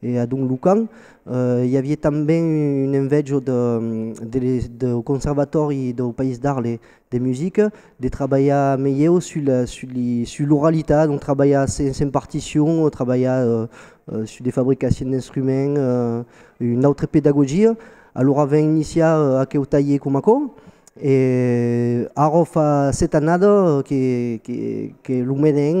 E a Don Lucan i avié tanben un envejo dau Conservatòri dau País d'Arles de Musica de trabalhar melhèu sus l'oralitat, donc trabalhar sens partition, trabalhar sus de fabricacion d'instruments, una autra pedagogia. Alora ven iniciar aqueu talhèr coma aquò e ara fa sèt annada que lo menen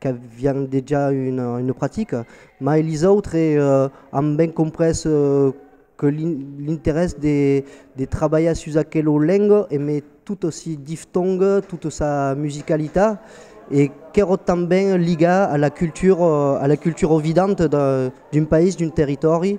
qu'avián dejà una practica, mai lis autres an ben comprés que l'interès de trabalhar sus aquela lenga e mai tot si diftong tota sa musicalitat e qu'èra tanben ligat a la cultura vidanta d'un país, d'un territòri.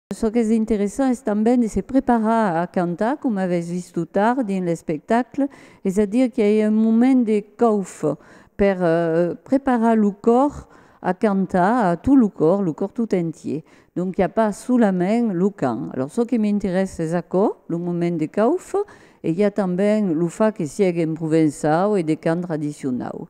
Çò qu'es interessant es tanben de se preparar a cantar, coma avètz vist tot tard dins l'espectacle, es a dire qu'i a un moment de cauf per preparar lo còr a cantar, a tot lo còr, lo còr tot entier. Donc i a pas solament lo cant. Alòrs çò que m'interèssa es aquò, lo moment de cauf, e i a tanben lo fach que siègue en provençau e de cant tradicionau.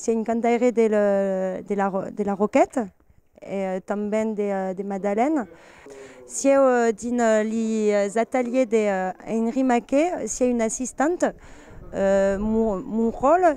S'i a un cantaire de la Roquette e tanben de Madalen. Sieu dins les ateliers d'Henri Maquet, s'i a un assistant, Monròl,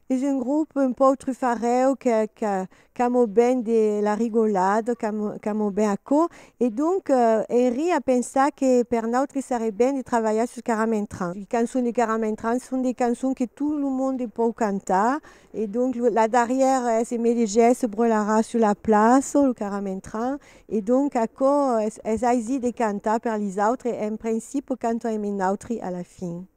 Es un grop un pauc trufarèu que que qu'amo ben de la rigolada, qu'amo qu'amo ben aquò. E donc, Henri a pensat que per nautri seré ben de travalhar sus Caramentran. Li cançons de Caramentran son de cançons que tot lo monde pòu cantar. E donc, lo la darrièra es E Melegèr se brolarà sus la plaça, lo Caramentran. E donc, aquò es es aisit de cantar per lis autres e en principe cantam e nautri a la fin.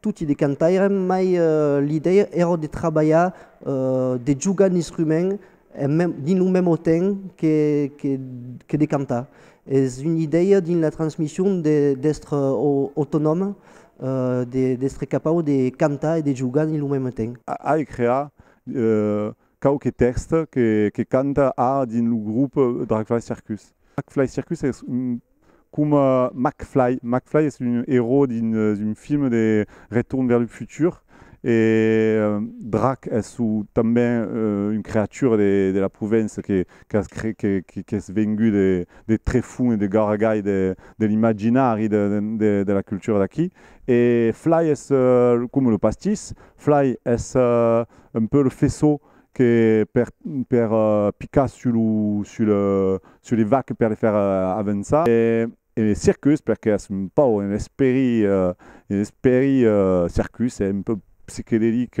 Toti de cantairem, mai l'idèia èra de trabalhar, de jogar un instrument dins lo mèm autent que de cantar. Es una idèia dins la transmission d'èstre autonòm, d'èstre capau de cantar e de jogar dins lo mèm autent. Ai creat quauque tèxt que canta ara dins lo grop Dragfly Circus. Dragfly Circus es coma McFly, McFly es un erò dins un film de Return vers le futur e Drag es tanben un creatura de la Provença qu'es vengut de Trefon e de Garagall de l'imaginari de la cultura d'aquí e Fly es coma lo pastís, Fly es un peu le faisceau que per per picar sus lo sus le sus les vaques per les faire avançar e e le circus perque es un pauc un esperi un esperi circus e un peu psichedelic.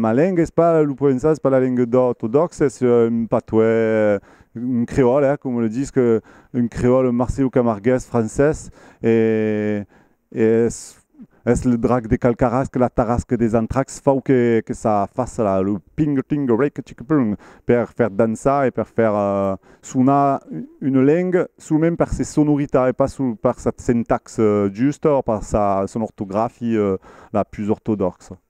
Ma lenga es pas lo provençan, es pas la lenga ortodòxa, es un patois, un creòl, eh, coma lo disc, un creòl marsilocamargués francés, e Es es le drac de cal carrasc la tarrasque des antracs fau que que ça faça la lo ping ping rec chic pung per fer dançar e per fer sonar une lengue solament per ses sonoritats e pas per sa syntaxe justa o per sa son ortografie la pus ortodòxa.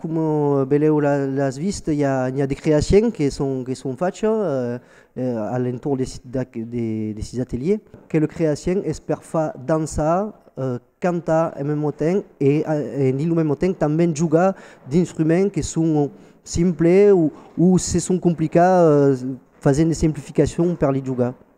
Coma velèu las vist, i a de creaciens que son facha a l'entorn de sis ateliers. Quel creacien es per far dançar, cantar en mesmo temps e dins lo mesmo temps tanben jogar d'instruments que son simples o se son complicats fasent de simplificacions per li jogar.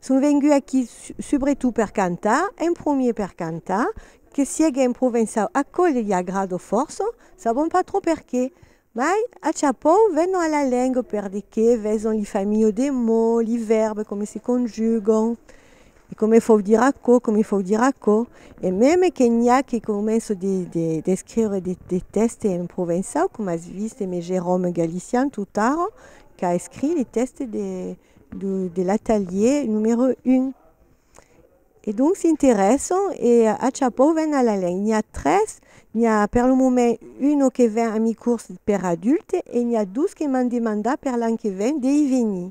Son vengut aquí subretot per cantar, en promier per cantar, que siegue en provençau aquò li agrada fòrça, sabon pas trop perqué. Mai, a chapòu, venon a la lenga per de qué veson li familhas de mots, li vèrbes, come se conjugan, e come fau dire aquò, come fau dire aquò. E meme que n'i a que començan de, de, d'escriure de, de tèxtes en provençau, coma as vist me Jérôme Galician tot ara, qu'a escrit li tèxtes de, de l'atelier numero un. E donc s'interesson e a chapeau ven a la lenha. N'i a tres, n'i a per lo moment uno que ven a mi curs per adulte e n'i a dos que m'an demandat per l'an que ven de i venir.